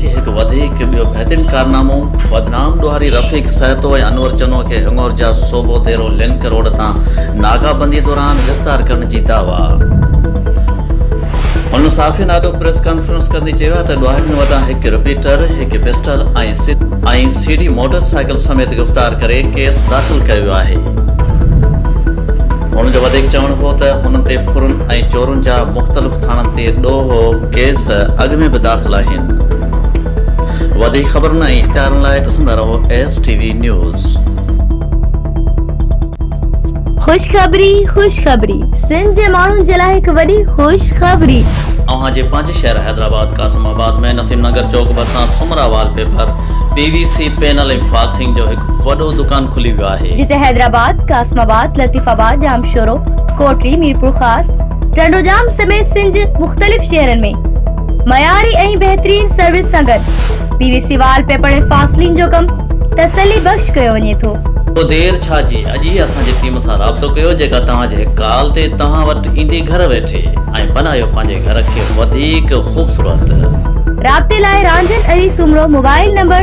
جي هڪ وڌيڪ ٻيو بهترين ڪارنامو بدنام ڏوهاري رفيق سهتو ۽ انور چنو کي هڱور جا صوبو ديرو لنڪ روڊ تان ناڪا بندي دوران گرفتار ڪرڻ جي دعويٰ هن صحافين آڏو پريس ڪانفرنس ڪندي چيو آهي ته ڏوهارين وٽان هڪ رپيٽر، هڪ pistol ۽ C D motorcycle سميت گرفتار ڪري ڪيس داخل ڪيو ويو آهي. هن جو وڌيڪ چوڻ هو ته هنن تي ڦرن. ۽ چورن جا مختلف ٿاڻن تي ڏوهه ڪيس اڳ ۾ به داخل آهن وڌيڪ خبرن ۽ اشتهارن لاء ڏسندا رهو ايس ٽي وي نيوز. خوشخبري خوشخبري سنڌ جي ماڻهن جي لاء هڪ وڏي خوشخبري. اوهان جي پنهنجي شهر حيدرآباد قاسم آباد ۾ نسيم نگر چوڪ ڀرسان Soomra wallpaper, P V C panel ۽ فاڪس سنگهه جو هڪ وڏو دڪان کلي ويو آهي. جتي حيدرآباد، قاسم آباد، لطيف آباد، ڄامشورو، ڪوٽڙي، ميرپورخاص، ٽنڊوڄام سميت سنڌ جي مختلف شهرن ۾ معياري ۽ بهترين سروس سان گڏ P V C wallpaper ۽ فاسلين جو ڪم تسلي بخش ڪيو وڃي ٿو. پوء دير ڇا جي اڄ ئي اسان جي ٽيم سان رابطو ڪيو جيڪا توهان جي هڪ ڪال تي توهان وٽ ايندي گهر ويٺي ۽ بنايو پنهنجي گهر کي وڌيڪ خوبصورت. رابطي لاء رانجهن علي سومرو موبائل نمبر.